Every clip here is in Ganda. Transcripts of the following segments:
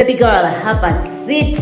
Baby girl, have a seat.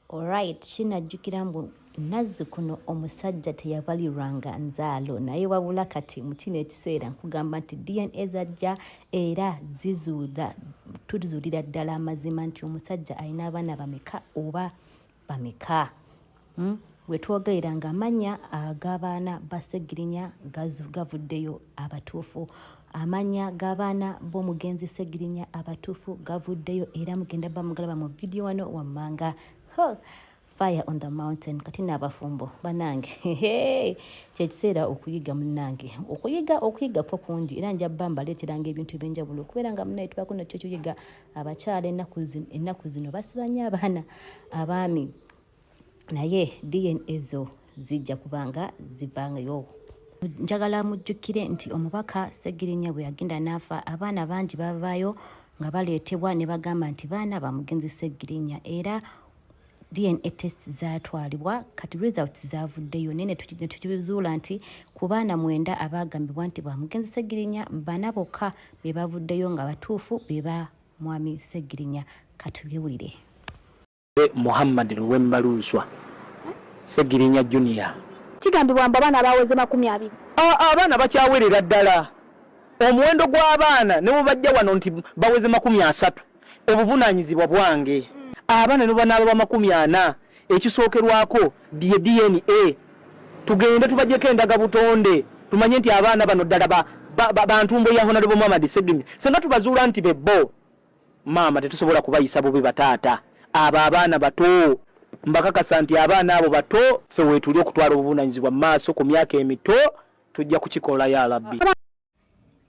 Alright, kinajjukira mbu nazzikuno omusajja teyabalirwanga nzaalo naye wabula kati mu kino ekiseera nkugamba nti dna zajja era zizuula tuzuulira ddala amazima nti omusajja alina abaana bameka oba bameka hmm? wetwogerera nga amanya agabaana basegirinya gavuddeyo abatuufu amanya gabaana bomugenzi segirinya abatuufu gavuddeyo era mugenda bamugalaba mu vidiyo wano wammanga fire on the mountain kati n'abafumbo banange kyekiseera okuyiga munange okuyiga okuyiga kwo kungi era njabba mbaleeteranga ebintu ebyenjawulo okubeera nga munaye tubako nakyo kyoyiga abakyala ennaku zino basiba nnyo abaana abaami naye dna zo zijja kubanga zivangayo njagala mujjukire nti omubaka segirinya bwe yagenda n'afa abaana bangi bavaayo nga baleetebwa ne bagamba nti baana bamugenzi segirinya era DNA test zaatwalibwa kati results zaavuddeyo naye netukizuula nti ku baana mwenda abaagambibwa nti ba mugenzi Ssegirinya bana bokka be bavuddeyo nga batuufu be ba mwami Ssegirinya katubyewulire Muhammad Luwemba Lunswa Ssegirinya Junior kigambibwa mbu abaana baaweze makumi abiri abaana bakyawerera ddala omuwendo gw'abaana ne bwe bajja wano nti baweze makumi asatu obuvunaanyizibwa bwange abana nebwebanaaba bamakumi ana ekisookerwako ye DNA tugende tubajeko endaga butonde tumanye nti abaana bano ddala bantumbo ya honarebo muhamad segimi senga tubazuula nti bebbo maama tetusobola kubayisa bubi bataata abo abaana bato mbakakasa nti abaana abo bato fe wetuli okutwala obuvunanyizibwa mu maaso ku myaka emito tujja kukikola ya labbi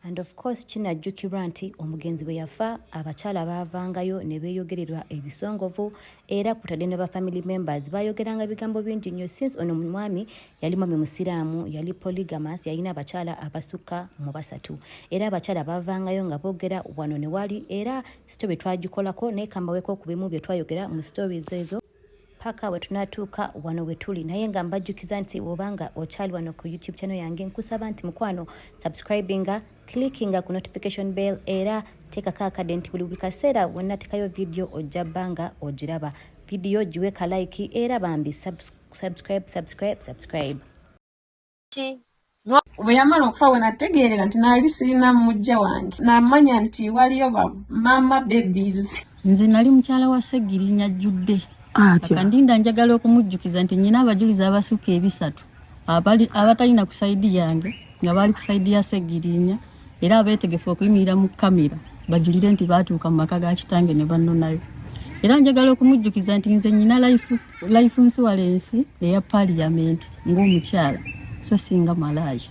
and of course kinajjukirwa nti omugenzi bwe yafa abakyala baavangayo ne beeyogererwa ebisongovu era kutadde ne ba family members baayogeranga bigambo bingi nnyo since ono mwami yali mwami musiraamu yali polygamas yalina abakyala abasukka mu basatu era abakyala baavangayo nga boogera wano ne wali era story twagikolako naye kambaweeko ku bimu bye twayogera mu stories ezo paka we tunatuuka wano we tuli naye nga mbajjukiza nti woba nga okyali wano ku youtube channel yange nkusaba nti mukwano subscribinga clickinga ku notification bell era teekako akade nti buli buli kaseera wenatekayo vidiyo ojja bbanga ogiraba vidiyo giwe kalaiki era bambi subscribe subscribe subscribe ki bwe yamala okufa we nategeerera nti naali sirina mujja wange namanya nti waliyo ba maama babies nze nali mukyala wa ssegirinya jjudde akandinda njagala okumujjukiza nti nyina abajulizi abasukka ebisatu abatalina ku saidi yange nga baali ku saidi ya ssegirinya era abeetegefu okuyimirira mu kamera bajulire nti baatuuka mu maka ga kitange ne bannonayo era njagala okumujjukiza nti nze nyina life insurance eya paliyamenti ng'omukyala so singa malaaya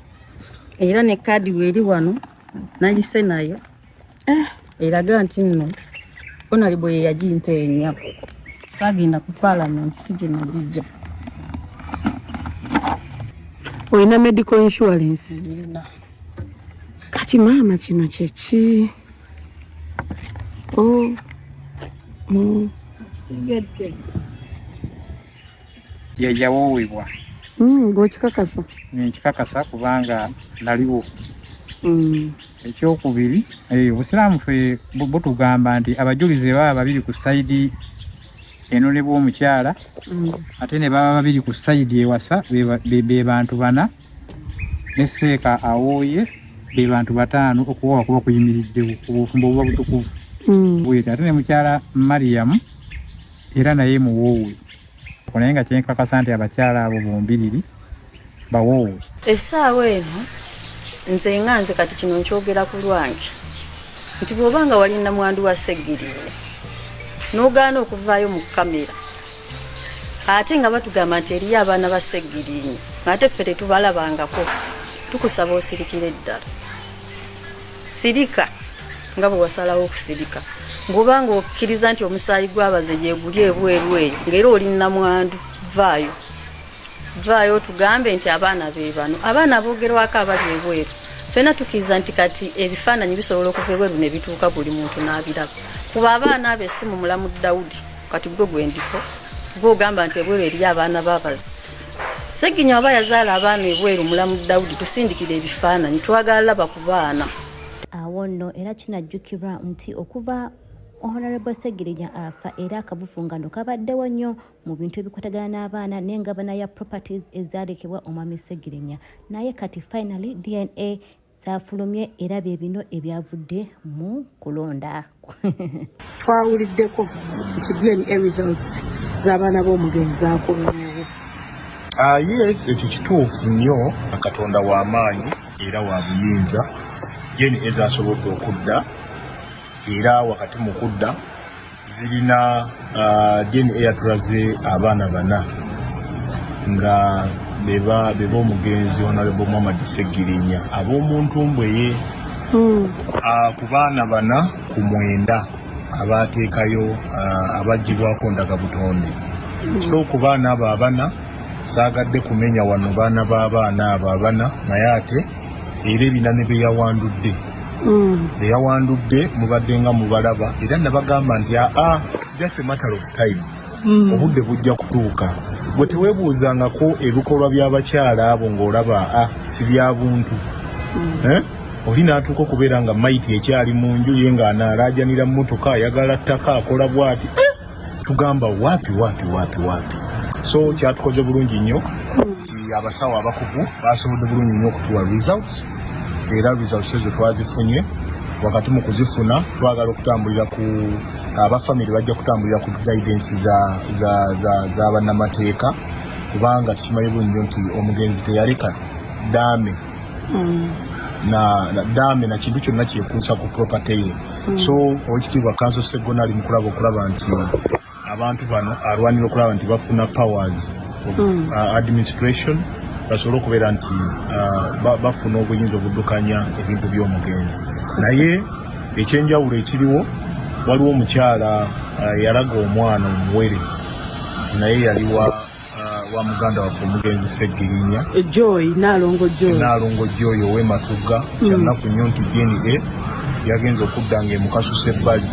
era ne kaadi weeri wano nayise nayo eh. eraga nti nno onali bwe yeyagimpa enya saagenda ku palamenti si gye nagijja olina medical insurance kati maama kino kyeki o oh, mm. yeyawowebwa mm, ngokikakasa nkikakasa kubanga naliwo mm. ekyokubiri eh, obusiraamu fe butugamba nti abajulizi baba babiri ku saidi eno ne bwomukyala ate ne baba babiri ku saidi ewasa be bantu bana ne seeka awooye be bantu bataano okuwa wakuba kuyimiriddewo obufumbo obuba butukuvu hmm. bwete ate ne mukyala mariyamu era naye muwoowe naye nga kyenkakasa nti abakyala abo bombiriri bawoowe essaawa eno nze nga nze kati kino nkyogera ku lwange nti bw'oba nga wali namwandu wa seggiriwe n'ogaana okuvaayo mu kamera ate nga batugamba nti eriyo abaana ba seggirinyi ate ffe tetubalabangako tukusaba osirikire eddala sirika nga bwe wasalawo okusirika ngoba nga okkiriza nti omusaayi gwabaze gyeguli ebweru eyo ngaera oli namwandu vaayo vaayo otugambe nti abaana be bano abaana abogerwako abali ebweru fena tukiriza nti kati ebifaananyi bisobola okuva ebweru ne bituuka buli muntu n'abiraba kuba abaana abo esimu mulamu dawudi kati gwe gwendiko gwe ogamba nti ebweru eri abaana babazi seginya aba yazaala abaana ebweru mulamu dawudi tusindikira ebifaananyi twagala laba ku baana awo nno era kinajjukirwa nti okuva honorable segirinya afa era akavufungano kabaddewo nnyo mu bintu ebikwatagana n'abaana n'engabana ya properties ezaalekebwa omwami segirinya naye kati finally dna zaafulumye era bye bino ebyavudde mu kulonda twawuliddeko nti dna results z'abaana b'omugenzi zaakulumyewo ah, yes ekyo kituufu nnyo katonda w'amaanyi era wa buyinza dna ezasobodde okudda era wakati mu kudda zirina uh, dna yatulaze abaana bana nga beba beba omugenzi honorable muhammad segirinya ab'omuntu mbweye hmm. uh, ku baana bana ku mwenda abateekayo uh, abagibwako ndaga butonde hmm. so ku baana abo abana saagadde kumenya wano baana b'abaana abo abana naye ate era ebina ne beyawandudde mm. beyawandudde mubadde nga mubalaba era nabagamba nti aa ah, ah, it's just a matter of time mm. obudde bujja kutuuka gwe tewebuuzangako ebikolwa by'abakyala abo ng'olaba a ah, si bya buntu mm. eh? oli n'atuuka okubeera nga maiti ekyali mu nju ye ng'anaalaajanira mmotoka ayagala ttaka akola bw'ati eh? tugamba wapi wapi wapi wapi so kyatukoze bulungi nnyo nti abasawo abakugu basobodde bulungi nnyo okutuwa results era results ezo twazifunye wakati mu kuzifuna twagala okutambulira ku abafamire bajja kutambulira ku guidance za bannamateeka kubanga tukimanyi bulungi nnyo nti omugenzi teyaleka daame mm. na, na dame na kintu kyonna kyekuusa ku property ye mm. so owekitiibwa kanso segona ali mukulaba okulaba nti abantu bano alwanira okulaba nti bafuna powers of mm. uh, administration basobole okubeera nti uh, bafuna obuyinza obuddukanya ebintu by'omugenzi naye ekyenjawulo ekiriwo waliwo omukyala uh, yalaga omwana omuwere naye yaliwa uh, wa muganda waffe omugenzi Ssegirinya eh, Joy Nalongo Joy Nalongo Joy owe Matugga mm. kyannaku nnyo nti DNA yagenze okudda nga emukasusa ebbali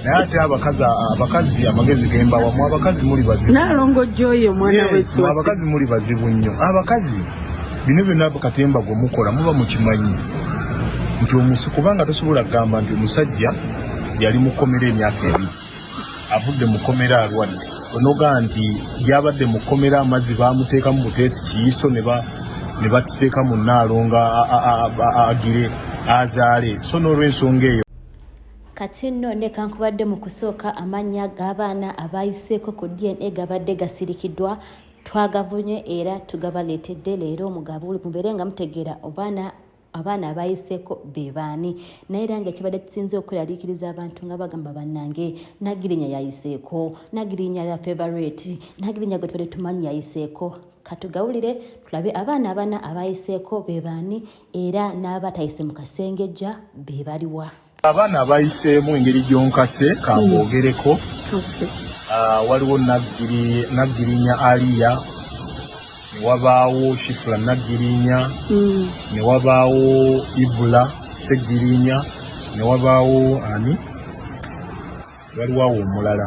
naye ate abakazi abakazi amagezi gemba wamu abakazi muli bazibu Nalongo Joy omwana w'eswasi yes, abakazi muli bazibu nnyo abakazi bino byonna katemba gwe mukola muba mukimanyi nti omusi kubanga tosobola kugamba nti omusajja yali mukomera emyaka ebiri avudde mu kkomera alwadde onogaa nti yabadde mu kkomera amazzi baamuteekamu buteesi kiyiso ne batuteeka mu nnaalo nga agire azaale so n'olwensonga eyo kati nno nekankubadde mu kusooka amannya g'abaana abaayiseeko ku dna gabadde gasirikiddwa twagavunye era tugabaleetedde leero mubeere nga mutegeera obaana abaana abayiseeko be baani naye era nga kibadde kisinze okweraliikiriza abantu nga bagamba bannange nagirinya yayiseeko nagirinya ya favorite nagirinya gwe tubadde tumanyi yayiseeko katugawulire tulabe abaana abana abayiseeko be baani era n'abatayise mu kasengejja be baliwa Abaana bayiseemu engeri gyonkase kambogereko ah, waliwo naggirinya aliya newabaawo shifula naggirinya mm. newabaawo ibula seggirinya newabaawo ani waliwo awo omulala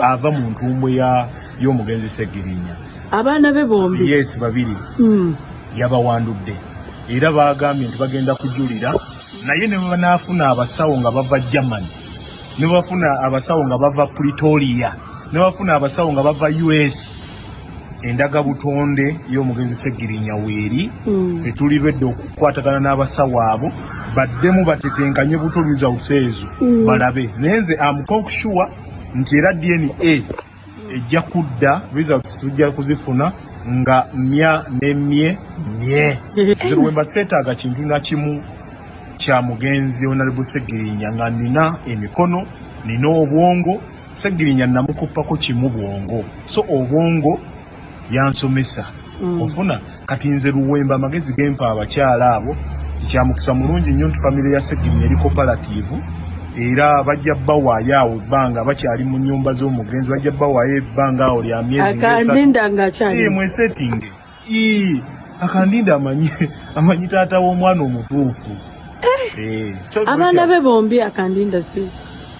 ava mu ntumbwe y'omugenzi Ssegirinya abaana be bombi yes babiri mm. yabawandudde era baagambye nti bagenda kujulira naye ne banaafuna abasawo nga bava germany ne bafuna abasawo nga bava pretoria ne bafuna abasawo nga bava us endaga butonde y'omugenzi Ssegirinya weeri mm. fe tuli lwedde okukwatagana n'abasawo abo baddemu batetenkanye buto results ezo mm. balabe naye nze amukonkushuwa nti era dna ejja kudda results tujja kuzifuna nga mya nemye mye nze lwemba seetaaga kintu nakimu kya mugenzi onalebusegirinya nga nina emikono nina obwongo Segirinya namukuppako kimu bwongo so obwongo yansomesa mm. ofuna kati nze luwemba amagezi gempa abakyala abo tikyamukisa mulungi nnyo nti famire ya Segirinya eri kopalativu era bajja bawaayo awo ebbanga bakyali mu nyumba z'omugenzi bajja bawaayo ebbanga awo lya myezi mweseti nge Ii, akandinde amanyi amanyi taata w'omwana omutuufu eh, eh, so abaana be bombi akandinda si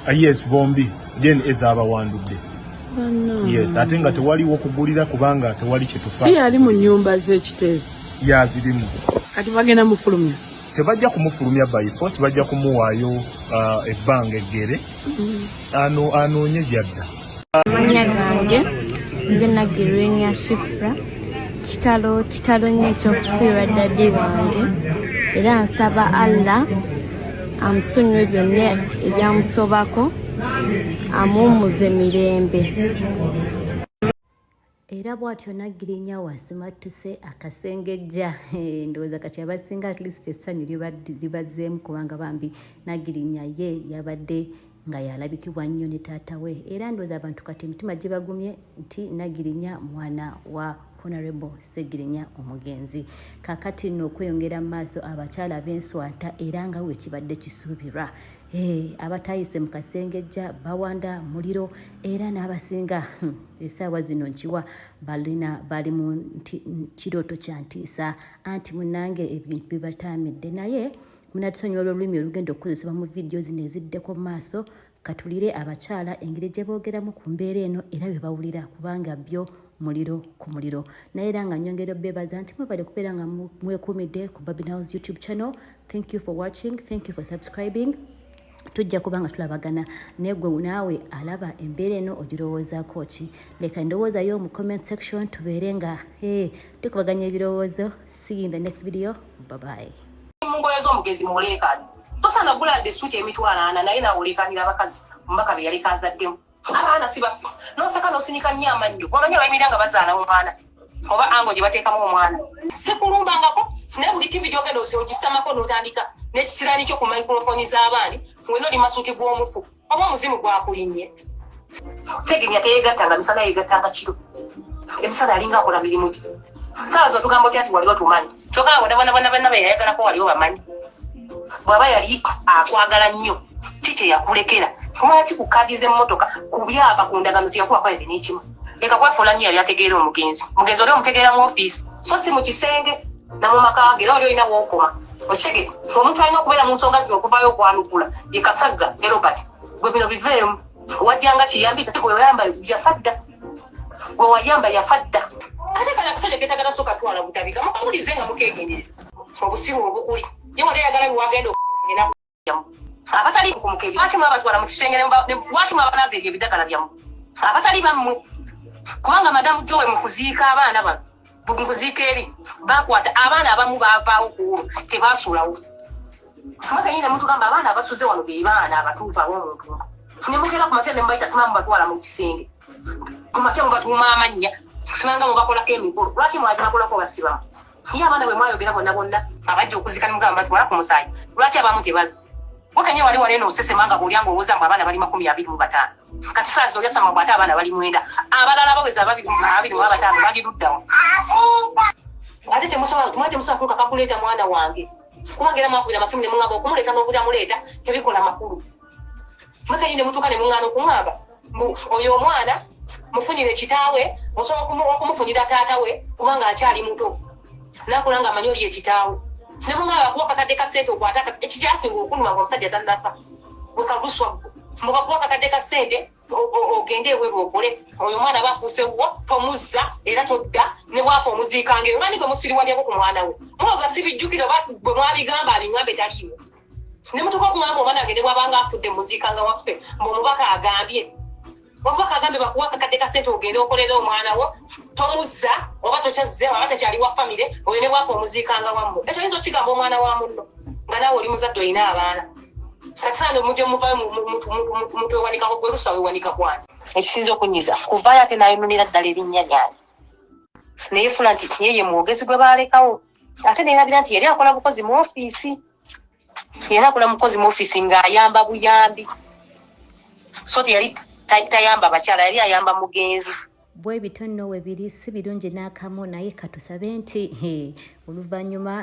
uh, yes bombi then ezabawandudde oh, yes ate nga tewaliwo kugulira kubanga tewali kyetufa si yali mu nyumba z'ekiteezi yazirimu kati bagenda mufulumya tebajja kumufulumya by force bajja kumuwaayo uh, ebbanga eggere mm-hmm. anoonye gyadda amanya gange nze nagirwenya shifra kitalo kitalo nnyo ekyokufiirwa dadi wange era nsaba allah amusonyiwe byonna ebyamusobako amuwumuze mirembe era bwatyo naggirinya wasimattuse akasengejja eh, ndowooza kati abasinga at least essanyu libazzeemu kubanga bambi naggirinya ye yabadde nga yalabikibwa nnyo ne taata we era ndowooza abantu kati emitima gibagumye nti naggirinya mwana wa honorable segirinya omugenzi kakati nno okweyongera mu maaso abakyala b'enswata era nga wekibadde kisuubirwa Hey, abatayise mu kasengejja bawanda muliro era n'abasinga hmm, esaawa zino nkiwa balina bali mu kirooto kya ntiisa anti munange ebintu bibataamidde naye munatusonyiwa olwolulimi olugenda okukozesebwa mu vidiyo zino eziddeko mu maaso katulire abakyala engeri gye boogeramu ku mbeera eno era bye bawulira kubanga byo muliro ku muliro naye era nga nyongera obebaza nti mwebale kubeera nga mwekumidde ku babinaws youtube channel thank you for watching thank you for subscribing tujja kuba nga tulabagana naye gwe naawe alaba embeera eno ogirowoozako ki leka endowooza yo mu comment section tubeere nga eh, tukubaganya ebirowoozo see you in the next video babayi mugweza omugezi muleekaani tosana gulande esuuti emitwalo ana naye nawe oleekaanira abakazi omubaka be yaleka azaddemu abaana sibaffe noseka nosinika nnyo amannyo wamanyi abayimira nga bazaala omwana oba ango gye bateekamu omwana sikulumbangako naye buli tivi gyogenda ogisamako notandika nekisirani kyo ku microfoni z'abaani wena oli masuuti gw'omufu oba omuzimu gwakulinnye segenya teyegattanga misana yegattanga kiro emisana alinga akola mirimu gye saawa zotugamba otya nti wali otumanyi kyoka abonabonabonabona beyayagalako wali obamanyi bwaba yali akwagala nnyo ki kyeyakulekera lwaki ku kaadi z'emmotoka ku byapa ku ndagano kyeyakuba kwayete n'ekimu leka kwafuula nnyo yali ategeera omugenzi omugenzi oli omutegeera mu ofiisi so si mu kisenge na mu maka ge era oli olina wookoma okitege omuntu alina okubeera mu nsonga zino okuvaayo okwanukula ye katagga ne robert gwe bino biveemu wajjanga kiyambi kati bweoyamba yafa dda gwewayamba yafa dda ate kale akasajja ketagala soka twala butabika mukamulize nga mukegendereza obusiru obukuli ye wali ayagala biwagenda abatali kumuke lwaki mwabatwala mu kisenge lwaki mwabanaza ebyo ebidagala byamu abatali bammwe kubanga madamu jowe mu kuziika abaana bano mukuziika eri bakwata abaana abamu bavaawo kuwo tebasuulawo mwekenyini nemutugamba abaana abasuze wano bebaana abatuufu abomuntu nemugenda kumakya nemubaita simamu batwala mukisenge kumakya mubatuuma amannya simanga mubakolako emikolo lwaki mwaki bakolako basibamu ye abaana bwemwayogera bonna bonna abajja okuzika nemugamba batwala ku musaayi lwaki abamu tebazzi mwekenyi wali wali eno osesemanga bwolyanga owooza mbu abaana bali makumi abiri mu bataano Kati saa zino yasama mbu ate abaana bali mwenda abalala abaweza ababiri ababiri mu abataano bali luddawa ate temusobola mwa temusobola kuuka kakuleeta mwana wange kubanga era mwakubira amasimu ne muŋŋamba okumuleeta n'obutamuleeta tebikola makulu mwekenyi ne mutuuka ne muŋŋaana okuŋŋamba mbu oyo omwana mufunire kitaawe musobola okumufunira taata we kubanga akyali muto nakula nga amanyi oliye kitaawo ne bwomala bakuwa kakadde ka ssente okwata ekikyasinga okunuma nga omusajja tannafa wekaguswa mbu bakuwa kakadde ka ssente ogende eweru okole oyo omwana aba afuuse wuwo tomuzza era todda ne bwafa omuziikanga eyo nani gwe musiriwalyako ku mwana we muloza sibijjukira oba bwe mwabigamba abingambe taliiwo ne mutuka okungamba omwana wange ne bwabanga afudde muziikanga waffe mbu omubaka agambye Wamma kagambe bakuwa akakadde ka ssente ogende okolere omwana wo tomuzza oba tokyazze aba takyali wa famire oyo ne bwafa omuziikanga wammu ekyo yinza okigamba omwana wa munno nga naawe oli muzadde olina abaana katisana omuje muvayo muntu wewanikako gwe lusa wewanika kwani ekisinza okunyiza kuvayo ate nayononera ddala erinnya lyange naye fula nti yeye mwogezi gwe balekawo ate neyerabira nti yali akola bukozi mu ofiisi era akola mukozi mu office ng'ayamba buyambi so teyali tayamba bakyala yali ayamba mugenzi bwe bityo nno we biri si birungi n'akamu naye katusabe nti oluvannyuma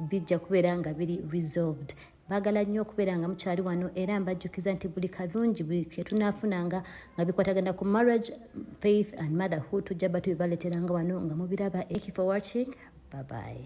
bijja kubeera nga biri resolved baagala nnyo okubeera nga mukyali wano era mbajjukiza nti buli kalungi buli kyetunafunanga nga bikwatagana ku marriage faith and motherhood tujja batu bibaleteranga wano nga mubiraba ekifo watching babaye